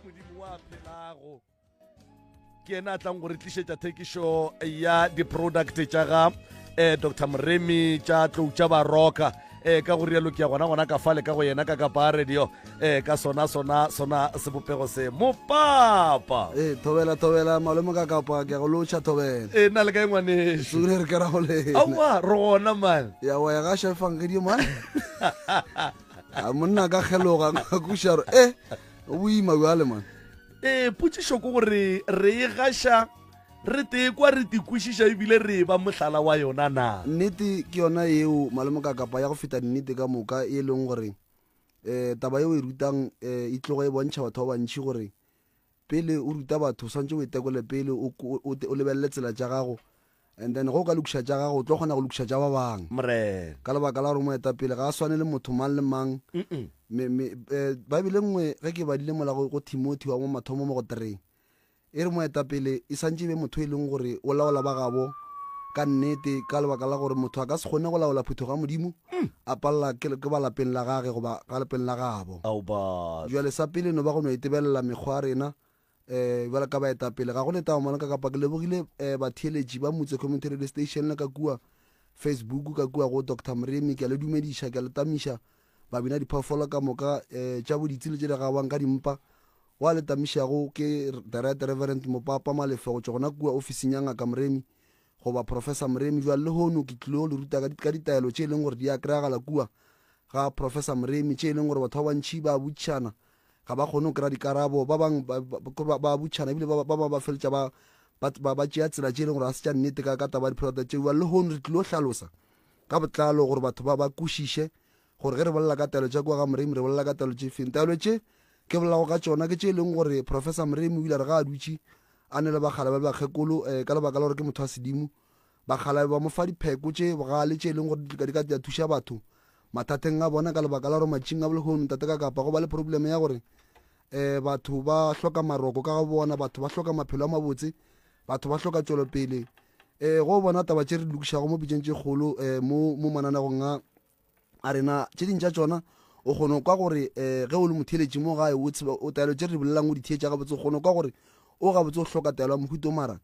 modimo wa phelago ke ena a tlang go re tlišetša thekišo ya di-product tša ga um eh, dr moremi tša tlou tša baroka eh ka go rialo ke ya gona gona ka fale ka go yena ka ka ba radio eh ka sona sona sona sebopego se mo papa eh thobela thobela malome ka ka pa ke go locha thobela eh na le ka engwane sure re ka ra go le awa re gona man ya wa ya ga shefang ke di man a monna ka kgeloga kušaro e eh, o boima bjale man ee eh, potsišo ko gore re e gaša re tee kwa re tikwešiša ebile re e ba mohlala wa yona na nnete ke yona yeo malemo ka kapa ya go feta nnete ka moka e leng gore um taba yeo e rutang um e tlogo e bontšha batho ba bantšhi gore Pele o ruta batho, o swanetše o itekole pele, o lebelele tsela tša gago, and then ge o ka lokiša tša gago, o tlo kgona go lokiša tša ba bang. Ka lebaka la gore moetapele ga a swane le motho mang le mang. Eh, Baebele nngwe ge ke badile mola go Timothy wa mo mathomo mo go tereng, e re moetapele e santše e be motho e leng gore o laola ba gabo ka nnete, ka lebaka la gore motho a ka se kgone go laola phutho ga Modimo A palela ke, ke ba lapeng la gage goba ga lapeng la gabo. Ao ba. Bjale sa pele no ba go no etebelela mekgwa ya rena eh bjale ka baetapele. Ga go letaba mona ka kapa ke lebogile eh batheeletši ba Motse Community Radio Station le ka kua Facebook ka kua go Doctor Moremi ke a le dumediša ke a le tamiša babina diphoofolo ka moka eh tša boditsi le tše di gabang ka dimpa wa le tamišago ke the right reverend mopapa malefo go tšwa gona kua ofising ya ngaka Moremi Goba, Professor Moremi, bjale lehono ke tlilo le ruta ka, ka ditaelo tše e leng gore di a kry-agala kua ga Professor Moremi, tše e leng gore batho ba bantši ba botšana, ga ba kgone go kry-a dikarabo, ba bang ba, ba, ba, ba botšana ebile ba, ba bangwe ba feletša ba, ba, ba, ba tšea tsela tše e leng gore ga se tša nnete ka, ka taba ya di-product tšeo. Bjale lehono re tlilo hlalosa ka botlalo gore batho ba, ba kwešiše Gore ge re bolela ka taelo tša kua ga Moremi, re bolela ka taelo tše feng? Taelo tše ke bolelago ka tšona ke tše e leng gore Professor Moremi o ile a re ge a dutše a ne le bakgalabje ba bakgekolo, eh, ka lebaka la gore ke motho wa sedimo, bakgalabje ba mo fa dipheko tše bogale tše e leng gore di ka di ka tla thuša batho mathateng a bona, ka lebaka la gore matšing a bolehono, Ntate ka Kapa, go ba le probleme ya gore eh batho ba hloka maroko ka ga bona, batho ba hloka maphelo a mabotse, batho ba hloka tšwelopele. Eh, go bona taba tše re di lokišago mo pitšeng tše kgolo eh mo mo mananegong a a re na tše ding tša tšona o kgone kwa gore um ge o le motheletši mo gae o tseba o taelo tše re di bolelang o di theetša gabotse o kgone kwa gore o gabotse o hloka taelo ya mohuta o mara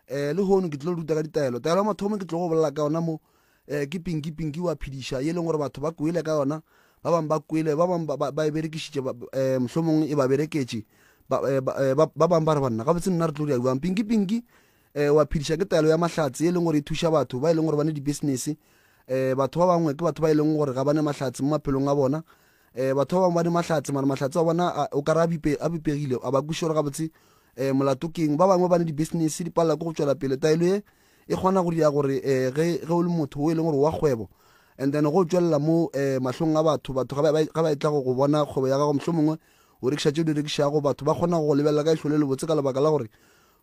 um le hono ke tlo ruta ka ditaelo taelo ya mathomo ke tlo go bolela ka yona mo um ke pinki pinki wa phediša e leng gore batho ba kwele ka yona ba bangwe ba kwele ba bangwe ba e berekišitše um mohlomongwe e ba bereketše ba bangwe ba re banna gabotse nna re tlo di a buang pinki pinki um wa phediša ke taelo ya mahlatse ye e leng gore e thuša batho ba e leng gore ba ne dibusiness um batho ba bangwe ke batho ba e leng gore ga ba ne mahlatse mo maphelong a bona um batho ba bangwe ba ne mahlatse mara mahlatse wa bona o ka re a bipegile a ba kwišore gabotse um molato keng ba bangwe ba ne di-business di palela ko go tswela pele taelo ye e kgona go dira gore um ge o le motho o e leng gore wa kgwebo and then go tswelela mo um mahlong a batho batho ga ba e tla go bona kgwebo ya gago mohlho mongwe o rekiša tse o di rekišago batho ba kgona go lebelela ka ihlole le botse ka lebaka la gore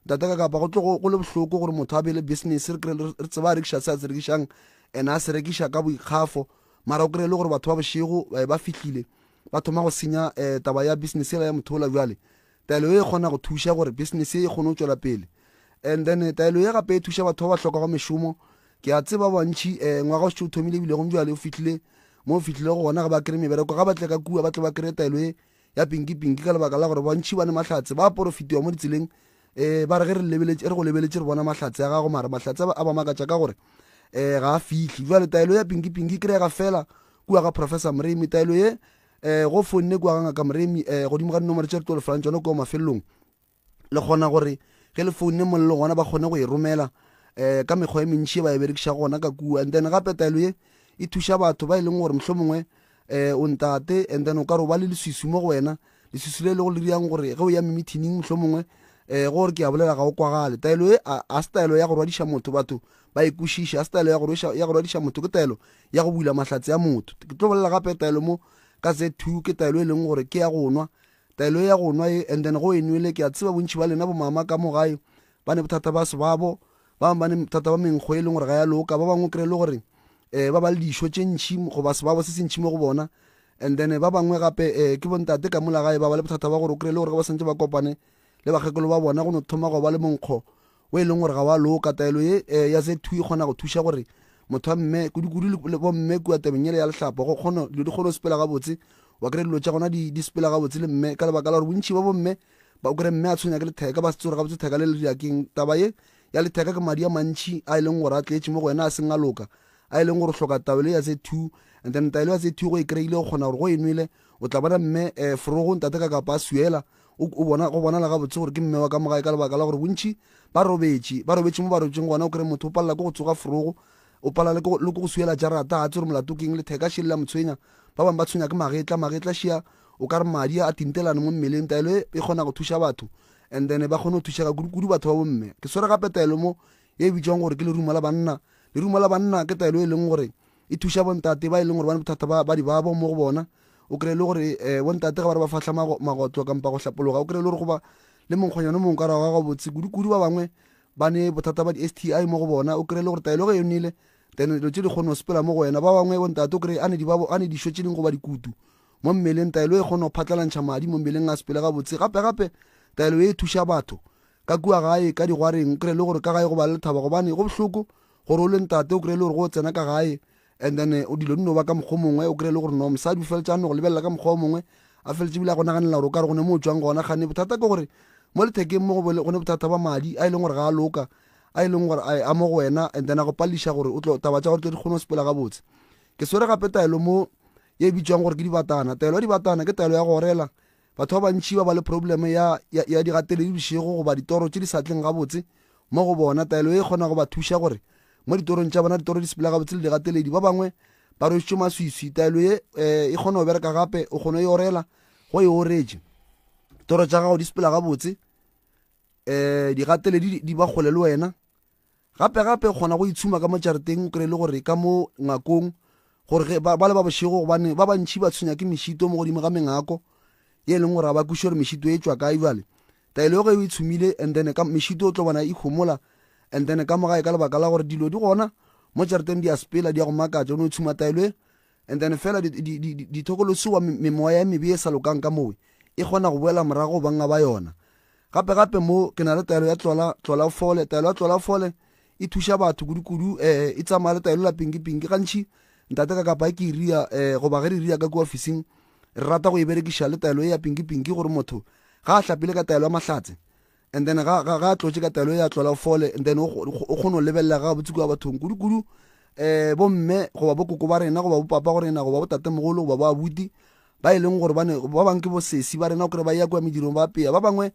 Ntate ka kapa go tlo go le bohloko gore motho a be le business re kry re tseba a rekiša se a se rekišang and a se rekiša ka boikgafo mara o kry le gore batho ba bošego eh, ba fihlile ba thoma go senya um taba ya business ela ya motho ola jwale taelo e kgona go thuša gore business e kgone go tswela pele and then eh, taelo ye gape e thuša batho ba ba hlokago mešomo ke a tseba bantšhi um ngwaga o setse o thomile ebile gong jale o fitlhile mo o fitlhile go gona ga ba kry mebereko ga ba tle ka kua ba tle ba kry taelo e ya pinki-pinki ka lebaka la gore bantšhi ba ne mahlatse ba porofitiwa mo ditseleng um ba re ge re go lebeletše re bona mahlatse a gago mara mahlatse a ba makatša ka gore um ga a fihle jale taelo ya pinki-pinki kry-ega fela kua ga professor moremi taelo ye um go fonne kua ga ngaka moremi um godimo ga dinomoro tše re tlo lefelang tsone kua mafelelong le kgona gore ge le foune mo le gona ba kgone go e romela um ka mekgwa e mentši e ba e berekiša gona ka kua and then gape taelo ye e thuša batho ba e leng gore mohlho mongwe um o ntate and then o ka re o ba le leswiswi mo go wena leswiswi le e lego le riang gore ge o ya memethining mohlho mongwe um gore ke a bolela ga o kwagale taelo e a se taelo ya go rwadiša motho batho ba e kwešiša a se taelo ya go rwadiša motho ke taelo ya go bula mahlatse a motho ke tlo bolela gape taelo mo ka z two ke taelo e leng gore ke ya go nwa Taelo ya go nwa ye, and then go e nwele, ke a tseba bontši ba lena bomama ka mo gae ba ne bothata ba sebabo, ba bangwe ba ne bothata ba menkgo e leng gore ga ya loka, ba bangwe o kry le gore um ba ba le dišo tše ntšhi goba sebabo se se ntšhi mo go bona, and then ba bangwe gape um ke bontate ka mola gae ba ba le bothata ba gore o kry le gore ge ba swantse ba kopane le bakgekolo ba bona go no thoma go ba le monkgo wo e leng gore ga wa loka. Taelo ye eh, ya Z2 e kgona go thuša gore motho wa mme kudu-kudu le, le bomme kua tabeng yele ya lehlapo go kgona dilo di kgone go sepela gabotse. Wa kry dilo tša gona di, di sepela gabotse le mme ka lebaka la gore bontši ba bomme ba o kry mme a tshwenya ke letheka ba se tse gore gabotse theka le le dira keng. Taba ye ya letheka ke madi a mantši a e leng gore a tletše mo go wena a seng a loka a e leng gore o hloka taelo ya Z2 and then taelo ya Z2 go e kry-ile o kgona gore go e nwele o tla bona mme eh, forogo ntate ka kapa a suela O, o bona, go bonala gabotse gore ke mme wa ka mo gae, ka lebaka la gore bontši ba robetše, ba robetše mo ba robetšeng gona. O kry-e motho o palela ke go tsoga forogo, o palela le ke go- le ke go suela jarata, ga a tse gore molato ke eng, letheka še le la mo tshwenya. Ba bangwe ba tshwenya ke magetla, magetla šia o ka re madi a tintelane mo mmeleng. Taelo e e kgona go thuša batho and then ba kgone go thušega kudu, kudu batho ba bomme. Ke swere gape taelo mo ye e bitšwang gore ke lerumo la banna. Lerumo la banna ke taelo e leng gore e thuša bontate ba e leng gore ba ne bothata ba, ba dibabo mo go bona, O kry-e le gore um bontate ga ba re ba fahla magotlo kampa go hlapologa o kry-e le gore goba le monkgonyana o mongwe ka rago ga gabotse kudu-kudu ba bangwe ba ne bothata ba di-s t i mo go bona o kry-e le gore taelo ge e nele then dilo tse di kgone go sepela mo go wena ba bangwe bontate o kry-e a ne dišo tse dingwe goba dikutu mo mmeleng taelo e kgone go phatlalantšha madi mo mmeleng a sepele gabotse gape-gape taelo e thuša batho ka kua gae ka digwareng o kry-e le gore ka gae go ba le lethaba gobane go bohloko gore o le ntate o kry-e le gore go tsena ka gae And then o dilo di no ba ka mokgwa o mongwe, o kry-e le gore no mosadi o feletša a no go lebelela ka mokgwa o mongwe, a feletše ebile a go naganela gore o ka re go ne mo o tšwang gona. Gane bothata ke gore mo lethekeng mo go ne bothata ba madi a e leng gore ga a loka, a e leng gore a mo go wena, and then a go pališa gore o tlo taba tša gore tlo di kgone go sepela gabotse. Ke swere gape taelo mo ye e bitšwang gore ke dibatana. Taelo ya dibatana ke taelo ya go orela, Batho ba bantši ba ba le probleme ya, ya, ya digateledi bošego goba ditoro tše di sa tleng gabotse mo go bona. Taelo ye e kgona go ba thuša gore mo ditorong tša bona ditoro di sepela gabotse le digateledi. Ba bangwe ba rwešitšwe maswiswi. Taelo ye e, e kgona go bereka gape, o kgona e orela go e oretše. Toro tša gago di sepela gabotse, um digateledi di ba kgole le wena. Gape-gape o kgona go itshuma ka mo jareteng o kry le gore ka mo ngakong gore ba le ba bošego gobane ba bantšhi ba tshwenya ke mešito mo godimo ga mengako ye e leng gore ga ba kwiše gore mešito e tšwa kae jale taelo ge o e tshumile and then ka mešito o tlo bona e homola and then ka mogae ka lebaka la gore dilo di gona mo jareteng di a sepela di ya go makatša o ne o tshuma taelo e and then fela dithokolosiwa memoya e mebe e sa lokang ka mowe e kgona go boela morago banga ba yona gape gape mo ke na le taelo ya tlola tlola fole taelo ya tlola fole e thuša batho kudu-kudu eh e tsamaya le taelo la pinki-pinki gantši ntate ka kapa ke iria eh goba ge re iria ka kua ofising re rata go e berekiša le taelo e ya pinki-pinki gore motho ga a hlapile ka taelo ya mahlatse And then ga, ga, ga a tlotše ka taelo ye ya tlola fole, and then o, o, o kgona go lebelela ga botse kua bathong kudu-kudu um eh, bomme goba bokoko ba rena goba bopapa go rena goba botatemogolo goba bo abuti ba e leng gore ba ne ba bangwe ke bosesi ba rena o kry ba ya kua medirong ba peya ba bangwe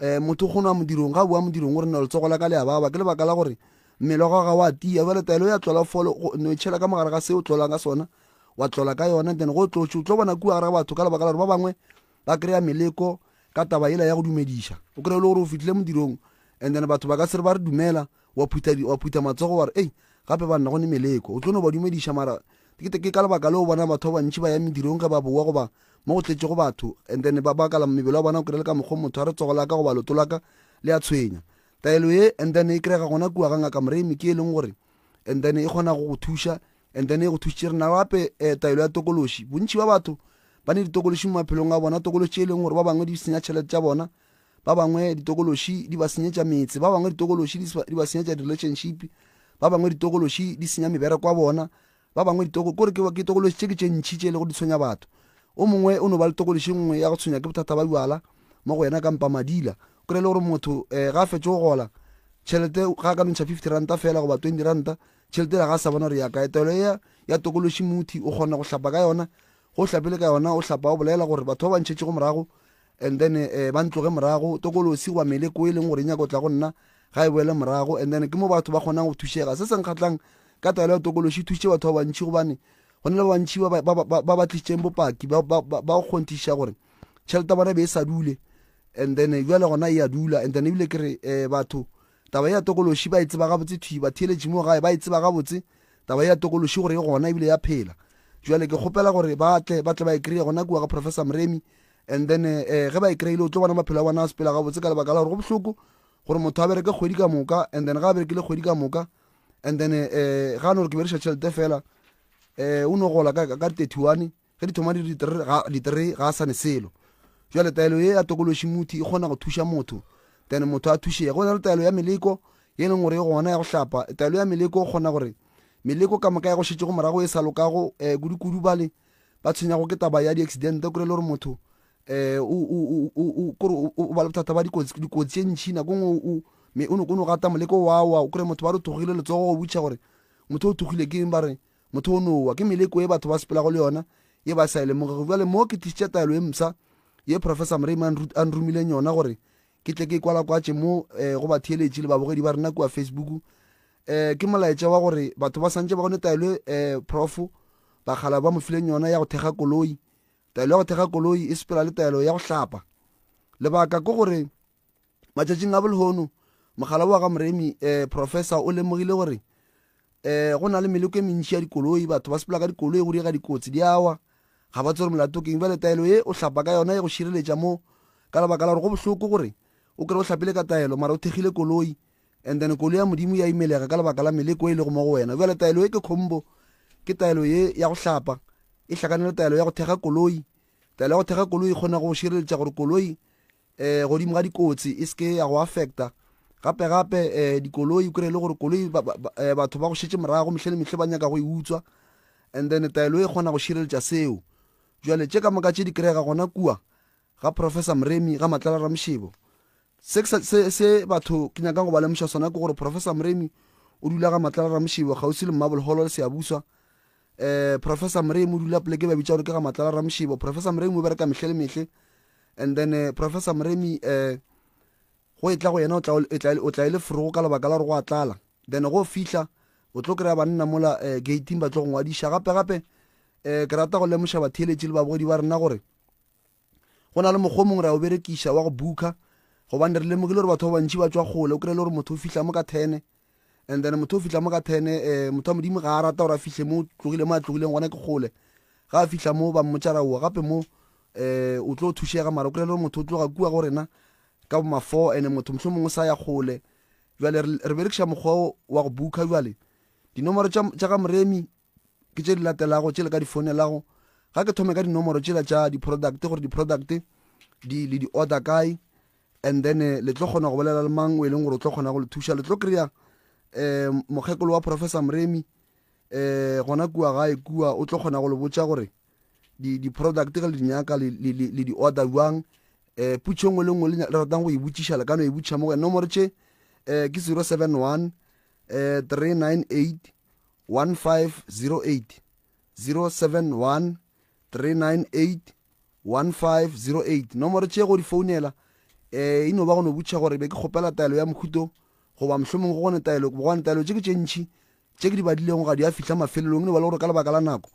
um motho o kgona wa modirong ga boa modirong o rena letsogo la ka le ya baba ke lebaka la gore mmele wa gaga wa tia jale taelo ya tlola fole no itšhela ka mogare ga se o tlolang ka sona wa tlola ka yona then go tlotše o tlo bona kua gare ga batho ka lebaka la gore ba bangwe ba kry-a meleko ka taba yela ya go dumediša o kry-e le gore o fitlhile modirong and then batho ba ka se re ba re dumela wa phutha matsogo wa re ei gape ba nna go ne meleko o tlo no ba dumediša mara ke ka lebaka le o bona batho ba bantši ba ya medirong ge ba bowa goba mo go tletše go batho and then ba bakala mebele wa bona o kry-e le ka mokgwa motho a re tsogo laka goba loto laka le a tshwenya taelo ye and then e kry-ega gona kua ga ngaka moremi ke e leng gore and then e kgona go go thuša and then e go thusitše re na gape um taelo ya tokološi bontši ba batho ba ne ditokološi mo maphelong a bona tokološi e leng gore ba bangwe di senya tšhelete tša bona ba bangwe ditokološi di ba senyetša metse ba bangwe ditokološi di ba senyetša di-relationship ba bangwe ditokološi di senya mebereko wa bona Ba bangwe ditoko, kore ke, ke tokološi tše ke tše ntši tše e lego di tshwenya batho. O mongwe o no ba le tokološi nngwe ya go tshwenya ke bothata ba bjala mo go yena kampa madila. Kore e le gore motho eh, ga a fetše go gola, tšhelete ga a ka nontšha fifty ranta fela goba twenty ranta, tšhelete ela ga a sa bona gore ya kae. Taelo ea ya tokološi muthi o kgona go hlapa ka yona. Ge o hlapile ka yona, o hlapa o bolela gore batho ba ba ntšhetšego morago, And then eh, ba ntloge morago. Tokolosi goba meleko e leng gore e nyaka go tla go nna ga e boele morago. And then ke mo batho ba kgonang go thušega. Se se nkgatlhang ka taelo ya tokolosi e thusitše batho ba bantšhi gobane go na le ba bantšhi ba ba- ba- ba- ba ba tlišitseng bopaki ba ba- ba- ba go kgonthiša gore tšhelete ya bona e be e sa dule and then eh, bjale gona e ya dula and then ebile ke re eh, batho taba e ya tokolosi ba e tseba gabotse thwi batheeletši mo gae ba e tseba gabotse taba e ya tokolosi gore e gona ebile ya phela jale ke kgopela gore ba tle ba tle ba e kry-e gona kua ga professor moremi and then eh, eh ge ba e kry-ile o tlo bona maphelo a bona a sepela gabotse ka lebaka la gore go bohloko gore motho a bereke kgwedi ka moka and then ga a berekile kgwedi ka moka and then eh, eh ga a no gore ke beriša tšhelete fela eh o no gola ka di-thirty one ge di thoma di-three ga a sane selo jale taelo ye ya tokološi mothi e kgona go thuša motho then motho a thušega go na le taelo ya meleko ye e leng gore e gona ya go hlapa taelo ya meleko o kgona gore meleko ka moka ya go šetšego morago e sa lokago um eh, kudu-kudu bale ba tshwenyago ke taba ya di-accidente kore le gore motho um kore o ba le bothata ba dikotsi tše ntšhi nako e ngwe me o no gata moleko wawa o kry motho ba re o thogile letsogo go butšha gore motho o thogile ke eng ba re motho o nowa ke meleko e batho ba sepelago le yona ye ba sa e lemogego jale mo ke tlisitše taelo e msa ye professor mrame a nromileng yona gore ke tle ke kwalakwatše mo um go batheeletši le babogedi ba rena kua facebook um ke molaetša wa gore batho ba swantše ba gone taelo um profo bakgala ba mo fileng yona ya go thekga koloi taelo ya go thekga koloi e sepela le taelo ya go hlapa lebaka ke gore matšatšing a bolehono mogala wa ga moremi um professor o lemogile gore um go na le meleko e mentši ya dikoloi batho ba sepela ka dikoloi go diega dikotsi di awa ga ba tsere molato keng bjale taelo ye o hlapa ka yona e go šireletša mo ka lebaka la gore go bohloko gore o kry o hlapile ka taelo mara o thekgile koloi And then kolo ya Modimo ya imelega ka lebaka la meleko e lego mo go wena. Bjale taelo e ke khombo, ke taelo ye ya go hlapa, e hlakane le taelo ya go thekga koloi. Taelo ya go thekga koloi e kgona go šireletša gore koloi eh godimo ga dikotsi e seke ya go affecta gape gape eh dikoloi o kry-e le gore koloi ba, ba, ba, eh, batho ba go šetse morago mehlhe le mehlhe ba nyaka go e utswa and then taelo e kgona go šireletša seo jale tše ka moka tše di kry-ega gona kua ga Professor Mremi, ga Matlala Ramošebo. Se, se, se batho ke nyakang go ba lemoša sona ke gore Professor Mremi o dula ga Matlala Ramošebo kgauswi le Mmabolholo le Seabuswa. Eh, Professor Mremi o dula poleke ba bitša gore ke ga Matlala Ramošebo. Professor Mremi o bereka mehle le mehle. And then uh, Professor Mremi eh, go e tla go yena o tla e le forogo ka lebaka la gore go a tlala. Then go fihla o tlo kry-a banna mola eh, gating ba tlo go ngwadiša gape gape eh, ke rata go lemoša batheeletši le babogedi ba rena gore go na le mokgwa o mongwe re a o berekiša wa go booka gobane re lemogile gore batho ba bantši ba tswa kgole o kry-e le gore motho o fihla mo ka tene and then motho o fihla mo ka tene um eh, motho wa modimo ga a rata gore a fihle mo tlogile mo a tlogileng gona ke kgole ga a fihla mo ba mmotšara oa gape mo um o tlo thušega mara o kry-e le gore motho o tloga kua go rena ka mafo and motho motlho mongwe sa ya kgole jale re berekiša mokgwa wa go booka jale dinomoro tša ga moremi ke tše di latelago tšele ka di founelago ga ke thome ka dinomoro tšela tša di-product gore di-product di le di-order kae and then eh, le tlo kgona go bolela le mang o e leng gore o tlo kgona go le thuša le tlo kry-a um mokgekolo wa professor moremi um gona kua gae kua o tlo kgona go le botša gore di-product ge le dinyaka le di-order jwang um putšho ngwe le ngwe le ratang go e botšiša le ka no e botšiša mo go nomoro tše um ke zero seven one um three nine eight 1508 071 398 1508 nomoro tše go di founela eh e no ba go no butšha gore be ke kgopela taelo ya mokhuto goba mohlomong go gone taelo gobane taelo tše ke tše ntšhi tše ke di badilego ga di a fihla mafelelong e no ba le gore ka lebaka la nako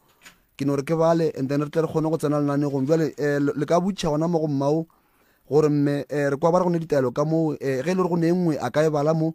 ke no re ke bale and then re tle re kgone go tsena lenanegong jale um le ka butšha gona mo go mmao gore mme um re kwa ba re go ne ditaelo ka moo um ge e le gore go ne e nngwe a ka e bala mo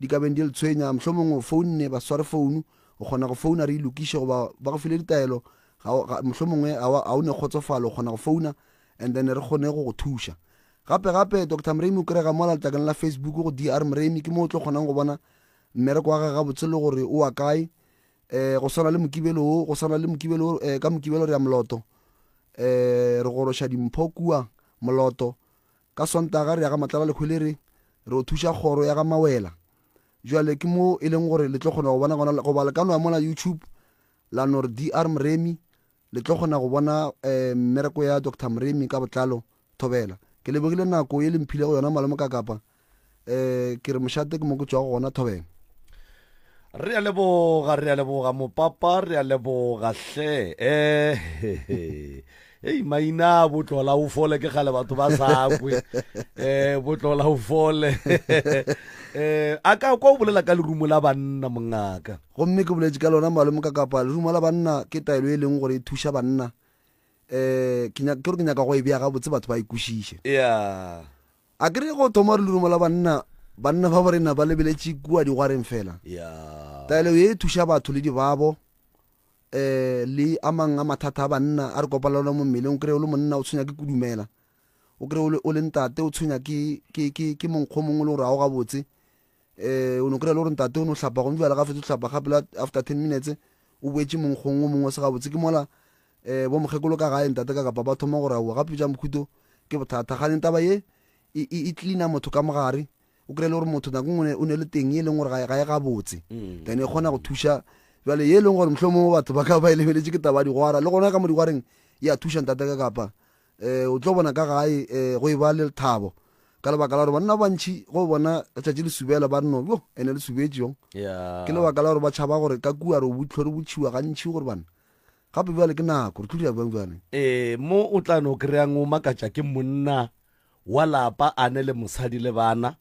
Di ka beng di le tshwenya, mohlomong o founne baswarefounu, o kgona go founa re e lokiše, goba ba go file ditaelo, mohlomongwe ga o ne kgotsofalo, o kgona go founa and then re kgone go go thuša. Gape gape, Doctor Mremi o kry-ega mola letlakeng la Facebook go DR Mremi, ke mo o tlo kgonang go bona mmereko wa gage gabotse le gore o wa kae. Um go swana le mokibelo o, go swana le mokibelo o, um ka mokibelo re ya moloto, um re goroša dimpho kua moloto, Ka Sontaga re ya ga Matlalalekhwelere re yo thuša kgoro ya ga Mawela. Bjale ke mo e leng gore le tlo kgona go bona gona, goba le ka no ya mola YouTube la no re DR Mremi, le tlo kgona go bona mmereko ya Doctor Mremi ka botlalo. Thobela. Ke lebogile nako ye le mphilego yona Malome Kakapa. Eh, ke re mošate ke mo ke tšwago gona thobeng. Re a leboga, re a leboga mopapa, re a leboga hle. Eh, he, he. Ei, maina a botlola o fole ke gale batho ba sa kwe. Eh, botlola o fole. Eh, a ka kwa o bolela ka lerumo la banna mongaka. gomme ke boletše ka lona malome ka kapa lerumo la banna ke taelo e leng gore e thuša banna um ke nyaka- ke gore ke nyaka go e bea gabotse batho ba e kwešiše Yeah. A ke re go thoma re lerumo la banna, banna ba borena ba lebeletše kua digwareng fela. Taelo ye e thuša batho le dibabo um le a mang a mathata a banna a re kopana le ona mo mmeleng. O kry-e o le monna o tshwenya ke kudumela, o kry-e o le ntate o tshwenya ke monkgo mongwe e le gore ga o gabotse. um o no kry-a le gore ntate o no hlapa gone jale ga fetsa hlapa gape la after ten minutes o boetse monkgong o mongwe se gabotse ke mola um bo mokgekolo ka gae ntate ka kapa ba thoma gore aowa gape ja mokhuto ke bothata gane taba ye e, e, e cleana motho ka mogare o kry-e le gore motho nako ngwe o ne le teng e leng gore ga e gabotse mm. then e kgona go thuša jale ye e leng gore mohlho mongwe batho ba ka ba e lebeletse ke taba ya digwara le gona ka mo digwareng ya thuša ntate ka kapa E, o tlo bona ka gae e, go e ba le lethabo ka lebaka la gore banna ba bantšhi go bona letšatši le subela ba reno yo ene le subetše yong yeah. ke lebaka la gore ba tšhaba gore ka kua re botlho re botšhiwa gantšhi gore bana gape bjale ke nako re tlodira bjang bjale ee eh, mo o tla no kry-ang o makatša ke monna wa lapa a ne le mosadi le bana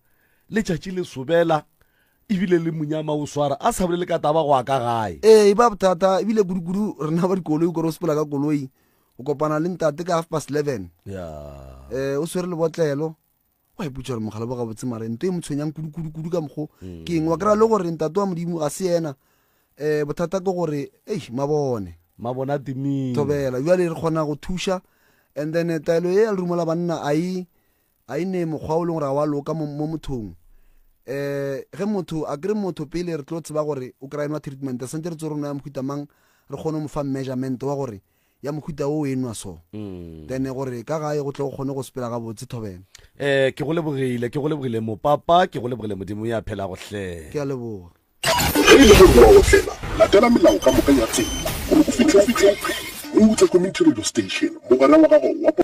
letšatši le sobela ebile le monyama o swara a sa bolele ka taba go a ka gae ee e ba bothata ebile kudu-kudu rena ba dikoloi kore o sepela ka koloi o kopana le ntate ka half past eleven yeah. um o swere lebotlelo wa iputsa gore mogala bo gabotse mare nto e mo tshwenyang kudu-kudu-kudu ka mokgo mm. ke eng wa kry-a le gore ntate wa modimo ga se ena um bothata ke gore ei mabone mabone a timile thobela jale re kgona go thuša and then eh, taelo e ya lerumo la banna a e a e ne mokgwa o leng gore ga wa loka mo mothong eh ge motho a kry motho pele re tlo tseba gore o kry-nwa treatment re santse re tse re nwa ya mohuta mang re kgone mo fa measurement wa gore ya mohuta wo e nwa so mm. then gore ka gae go tle go kgone go sepela ga botse thobela eh ke go lebogile ke go lebogile mo papa ke go lebogile modimo ya phela go hle ke a leboga ge e le gore wa otlela latela melao ka moka ya tsela gore o fitlhe o fitlhe o utlwe community radio station mogwera wa gago wa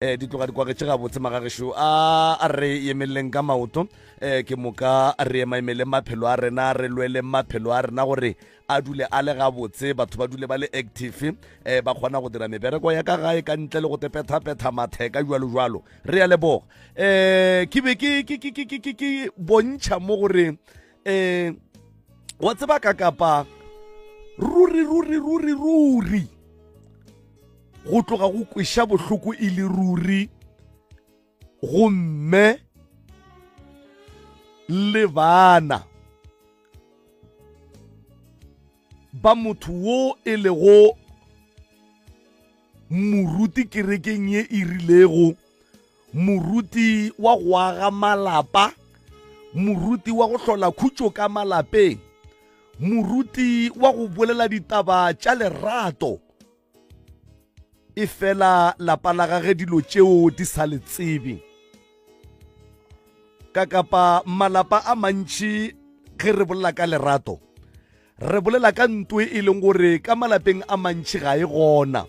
um di tloga di kwagetše gabotse magagešo a re emeleleng ka maoto um ke moka re ema emeleng maphelo a rena re lweleng maphelo a rena gore a dule a le gabotse batho ba dule ba le active um ba kgona go dira mebereko ya ka gae ka ntle le go tepethapetha matheka jalo jalo re ya leboga um ke be ke bontšha mo gore eh wa tseba ka kapa ruri ruri ruri ruri go tloga go kweša bohloko e le ruri gomme le bana ba motho wo e lego moruti kerekeng ye e rilego moruti wa go aga malapa moruti wa go hlola khutšo ka malapeng moruti wa go bolela ditaba tša lerato e fela lapa la gage dilo tšeo di sa le tsebe ka kapa malapa a mantši ge re bolela ka lerato Re bolela ka ntoe e leng gore ka malapeng a mantši ga e gona.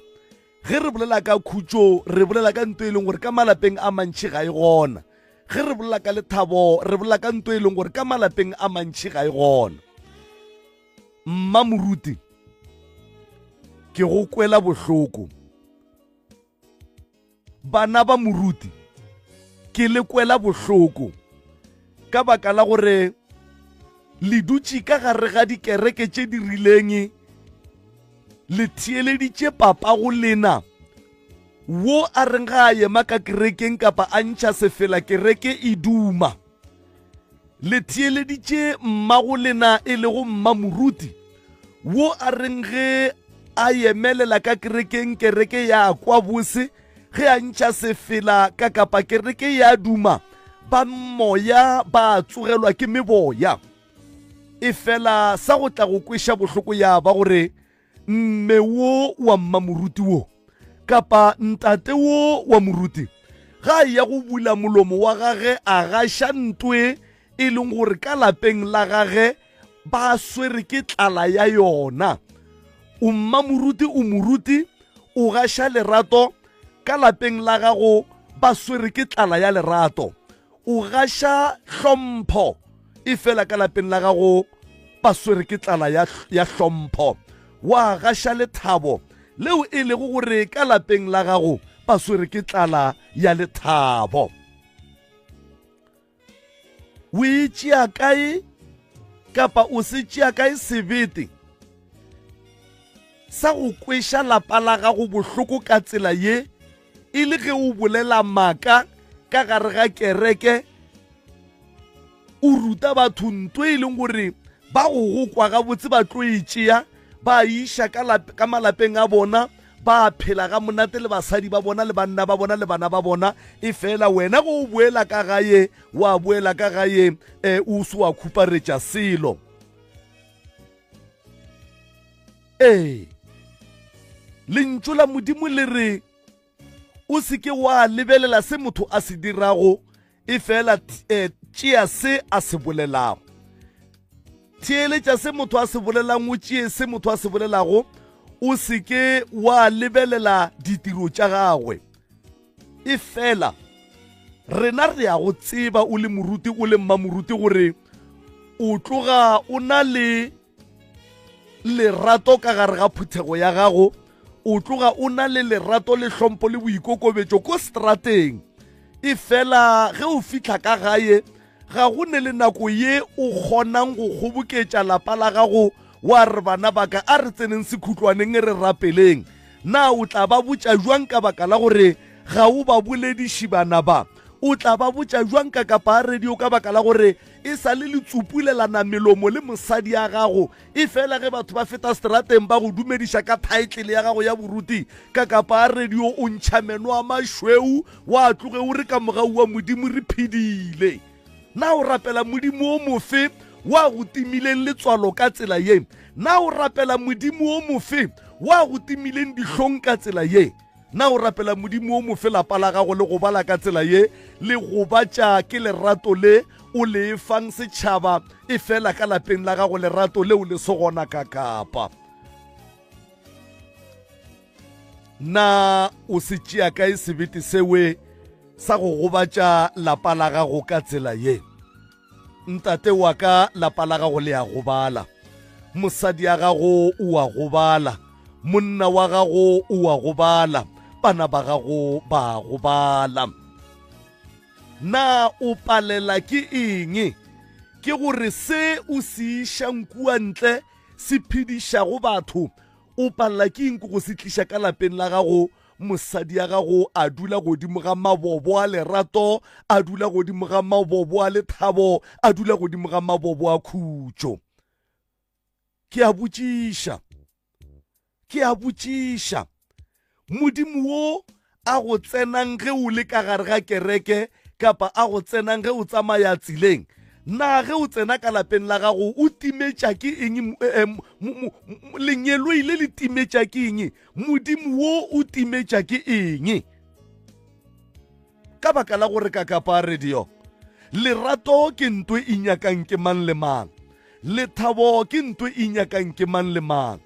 Ge re bolela ka khutšo, re bolela ka ntoe e leng gore ka malapeng a mantši ga e gona. Ge re bolela ka lethabo, re bolela ka ntoe e leng gore ka malapeng a mantši ga e gona. Mmamoruti, ke go kwela bohloko. Bana ba moruti, ke le kwela bohloko ka baka la gore le dutše ka gare ga dikereke tše di rileng le theeleditše papa go lena wo a reng ga a yema ka kerekeng kapa a ntšha sefela kereke e duma. le theeleditše mmago lena e lego mmamoruti wo a reng ge a yemelela ka kerekeng kereke ya kwa bose ge a ntšha sefela ka kapa kereke ya duma ba moya ba tsogelwa ke meboya e fela sa go tla go kweša bohloko ya ba gore mme wo wa mmamoruti wo kapa ntate wo wa moruti ga a ya go bula molomo wa gage a gaša ntoe e leng gore ka lapeng la gage ba swere ke tlala ya yona o mmamoruti o moruti o gaša lerato ka lapeng la gago ba swere ke tlala ya lerato O gaša hlompho, efela ka lapeng la gago ba swere ke tlala ya, ya hlompho. Wa gaša lethabo, leo e lego gore ka lapeng la gago ba swere ke tlala ya lethabo. O e tšea kae kapa o se tšea kae sebete sa go kweša lapa la gago bohloko ka tsela ye e le ge o bolela maka ka gare ga kereke o ruta batho nto e leng gore ba go go kwa gabotse ba tlo e tšea ba iša ka malapeng a bona ba phela ga monate le basadi ba bona le banna ba bona le bana ba bona e fela wena go o boela ka gaye wa boela ka gaye um eh, o se wa khuparetša selo Ee, lentšu la Modimo le re, o se ke wa lebelela se motho a se dirago e fela eh, tšea se a se bolelago theeletša se motho a se bolelang o tšee se motho a se bolelago o se ke wa lebelela ditiro tša gagwe e fela rena re ya go tseba o le moruti o le mmamoruti gore o tloga o na le lerato ka gare ga phuthego ya gago o tloga o na le lerato le hlompo le boikokobetšo ko strateng e fela ge o fitlha ka gae ga go ne le nako ye o kgonang go kgoboketša lapa la gago wa re bana baka a re tseneng sekhutlwaneng e re rapeleng na o tla ba botša jwang ka baka la gore ga o ba bolediši bana ba o tla ba botša jwang ka kapa a radio ka baka la gore E sa le le tsupulelana melomo le mosadi ya gago, e fela ge batho ba feta seterateng ba go dumediša ka thaetlele ya gago ya boruti ka kapa a radio, o ntšha meno a mašweu, wa tloge o re ka mogau wa Modimo re phedile. Na o rapela Modimo o mofe wa go timileng letswalo ka tsela ye? Na o rapela Modimo o mofe wa go timileng dihlong ka tsela ye? Na o rapela Modimo o mo fe lapa la gago le go bala ka tsela ye le gobatša ke lerato le o le fang setšhaba efela ka lapeng la gago lerato leo le se gona ka kapa? Na o se tšea kae sebete sewe sa go gobatša lapa la gago ka tsela ye? Ntate wa ka lapa la gago le a gobala, mosadi ya gago o a gobala, monna wa gago o a gobala, bana ba gago ba a gobala. Na o palela ke eng? Ke gore se o se išang kua ntle se phedišago batho o palela ke eng go se tliša ka lapeng la gago Mosadi ya gago a dula godimo ga mabobo a lerato, a dula godimo ga mabobo a lethabo, a dula godimo ga mabobo a khutšo. Ke a botšiša, ke a botšiša, Modimo wo a go tsenang ge o le ka gare ga kereke kapa a go tsenang ge o tsamaya tseleng na ge o tsena ka lapeng la gago o timetša ke eng lengeloi le le timetša ke eng Modimo wo o timetša ke eng? Ka baka la gore ka kapa a re dio, lerato ke nto e nyakang ke mang le mang, lethabo ke nto e nyakang ke mang le mang.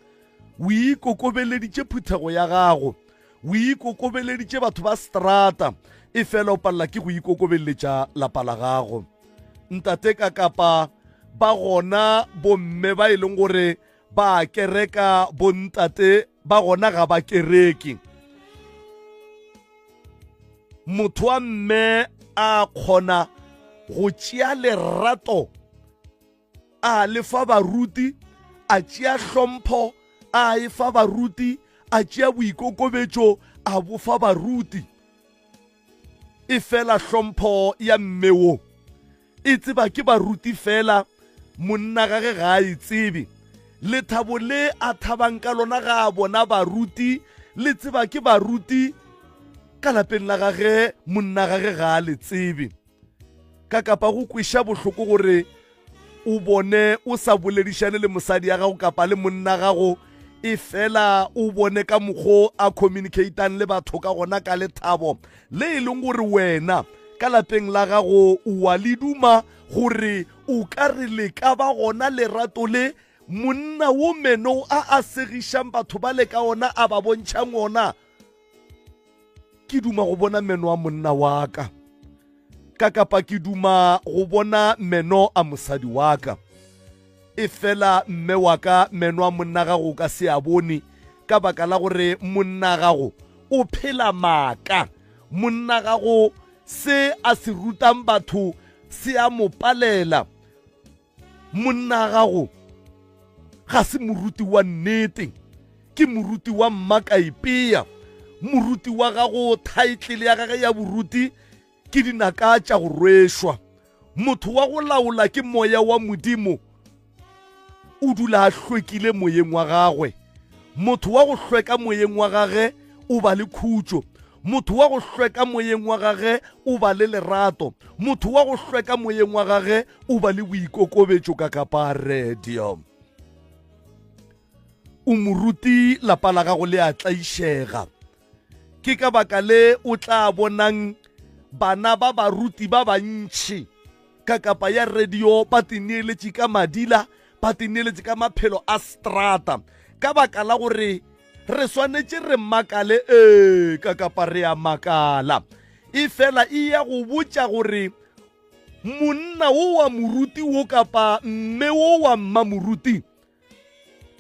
O ikokobeleditše phuthego ya gago, o ikokobeleditše batho ba strata, e fela o palela ke go ikokobeletša lapa la gago. Ntate ka kapa ba gona bomme ba e leng gore Ba a kereka bontate ba gona ga ba kereke. Motho wa mme a kgona go tšea lerato a le fa baruti a tšea hlompho a e fa baruti a tšea boikokobetšo a bofa baruti e fela hlompho ya mme wo e tseba ke baruti fela monna gage ga a e tsebe lethabo le a thabang ka lona ga a bona baruti le tseba ke baruti ka lapeng la gage monna gage ga a le tsebe ka kapa go kweša bohloko gore o bone o sa boledišane le mosadi ya gago kapa le monna gago e fela o bone ka mokgwa a communicatang le batho ka gona ka lethabo le e leng gore wena ka lapeng la gago wa le duma gore o ka re le ka ba gona lerato le monna wo meno a a segišang batho ba le ka ona a ba bontšhang ona ke duma go bona meno a monna wa ka ka kapa ke duma go bona meno a mosadi wa ka e fela mme wa ka meno a monna gago ka se a bone ka baka la gore monna gago o phela maaka monna gago se a se rutang batho se a mo palela Monna gago ga se moruti wa nnete, ke moruti wa mmakaipea. Moruti wa gago, thaitlele ya gage ya boruti ke dinaka tša go rwešwa. Motho wa go laola ke moya wa Modimo, o dula a hlwekile moyeng wa gagwe. Motho wa go hlweka moyeng wa gage o ba le khutšo. Motho wa go hlweka moyeng wa gage o ba le lerato. Motho wa go hlweka moyeng wa gage o ba le boikokobetšo ka kaparedio. O moruti lapa la gago le a tlaišega. Ke ka baka le o tla bonang bana ba baruti ba bantši ka kapa ya radio ba tineeletše ka madila ba tineeletše ka maphelo a strata ka baka la gore re swanetše re makale ee ka kapa re a makala e fela e ya go botša gore monna wo wa moruti wo kapa mme wo wa mmamoruti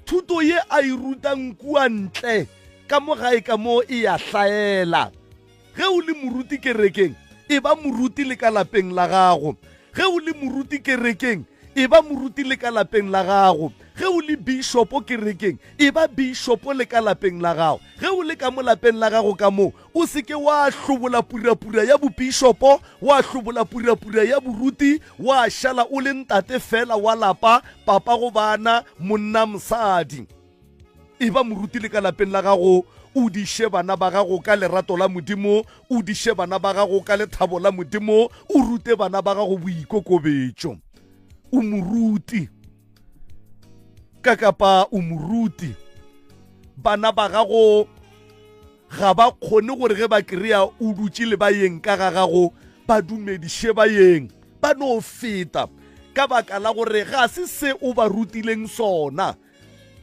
Thuto ye a e rutang kua ntle ka mo gae ka moo e ya hlaela. Ge o le moruti kerekeng, e ba moruti le ka lapeng la gago. Ge o le moruti kerekeng, e ba moruti le ka lapeng la gago. Ge o le bišopo kerekeng, e ba bišopo le ka lapeng la gago. Ge o le ka mo lapeng la gago ka moo, O se ke wa hlobola purapura ya bopišopo, wa hlobola purapura ya boruti, wa šala o le ntate feela wa lapa, papa go bana, monna, mosadi. Eba moruti le ka lapeng la gago, o diše bana ba gago ka lerato la Modimo, o diše bana ba gago ka lethabo la Modimo, o rute bana ba gago boikokobetšo. O moruti ka kapa o moruti. Bana ba gago Ga ba kgone gore ge ba krea o dutše le bayeng ka ga gago ba dumediše bayeng, ba no feta, ka baka la gore ga se se o ba rutileng sona.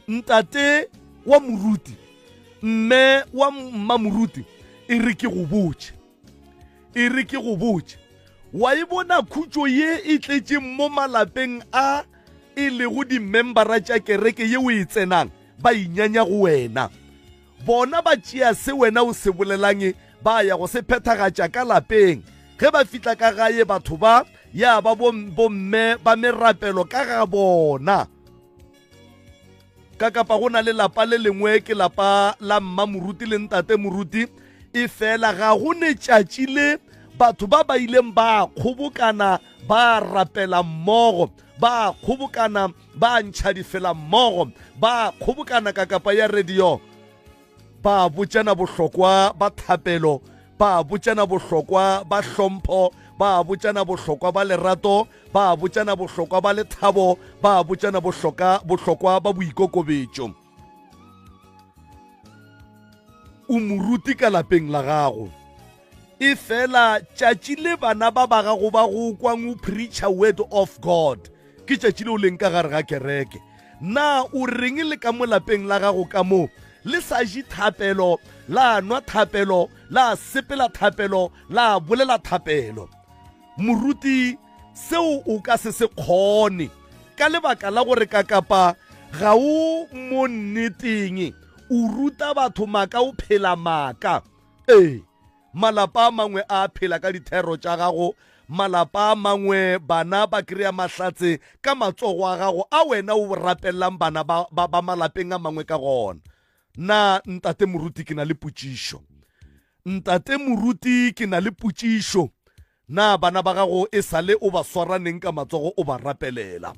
Ntate wa moruti, mme wa mmamoruti, e re ke go botše, e re ke go botše, wa e bona khutšo ye e tletšeng mo malapeng a e lego dimembara tša kereke ye o e tsenang? Ba inyanya go wena. Bona ba tšea se wena o se bolelang ba ya go se phethagatša ka lapeng. Ge ba fihla ka gae, batho ba ya ba bo, bomme ba merapelo ka ga bona. Ka kapa go na le lapa le lengwe, ke lapa la mma moruti le ntate moruti, efela ga go netšatši le batho ba ba ileng ba kgobokana ba rapela mmogo, ba kgobokana ba ntšha difelammogo ba kgobokana ka kapa ya radio ba botšana bohlokwa ba thapelo ba botšana bohlokwa ba hlompho ba botšana bohlokwa ba lerato ba botšana bohlokwa ba lethabo ba botšana bohlokwa ba boikokobetšo o moruti ka lapeng la gago e fela tšatši le bana ba ba gago ba go kwang o preacher word of god ke tšatši le o leng ka gare ga kereke na o reng le ka mo lapeng la gago ka moo le sa je thapelo la nwa thapelo la sepela thapelo la bolela thapelo Moruti, seo o ka se se kgone ka lebaka la gore kakapa ga o mo nneteng, o ruta batho maka o phela maka. Ee, malapa a mangwe a phela ka dithero tša gago, malapa a mangwe bana ba kry-a mahlatse ka matsogo a gago a wena o rapellang bana ba, ba, ba malapeng a mangwe ka gona. Na ntate moruti ke na le potšišo. Ntate moruti ke na le potšišo. Na bana ba gago e sale o ba swara neng ka matsogo o ba rapelela?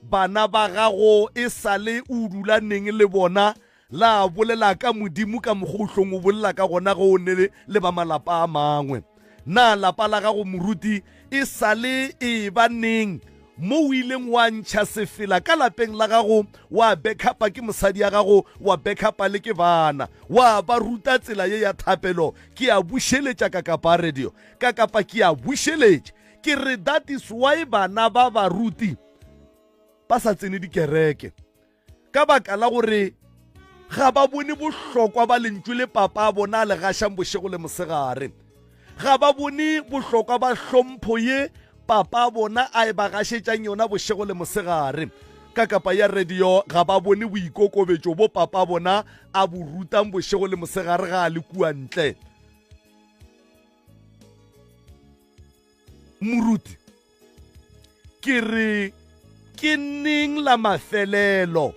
Bana ba gago e sale o dula neng le bona la bolela ka Modimo ka mokgwa o hlong o bolela ka gona ge o ne le ba malapa a mangwe? Na lapa la gago moruti e sa le e eba neng mo o ileng wa ntšha sefela ka lapeng la gago, wa bekhapa ke mosadi ya gago, wa bekhapa le ke bana, wa ba ruta tsela ye ya thapelo? Ke a bušeletša Kakapa Radio. Kakapa, Ke a bušeletša. Ke re that is why bana ba baruti ba sa tsene dikereke. Ka baka la gore ga ba bone bohlokwa ba lentšu le papa a bona a le gašang bošego le mosegare, ga ba bone bohlokwa ba hlompho ye papa a bona a e ba gašetšang yona bošego le mosegare, ka kapa ya radio ga ba bone boikokobetšo bo papa a bona a bo rutang bošego le mosegare ga a le kua ntle. Moruti. Ke re, Ke neng la mafelelo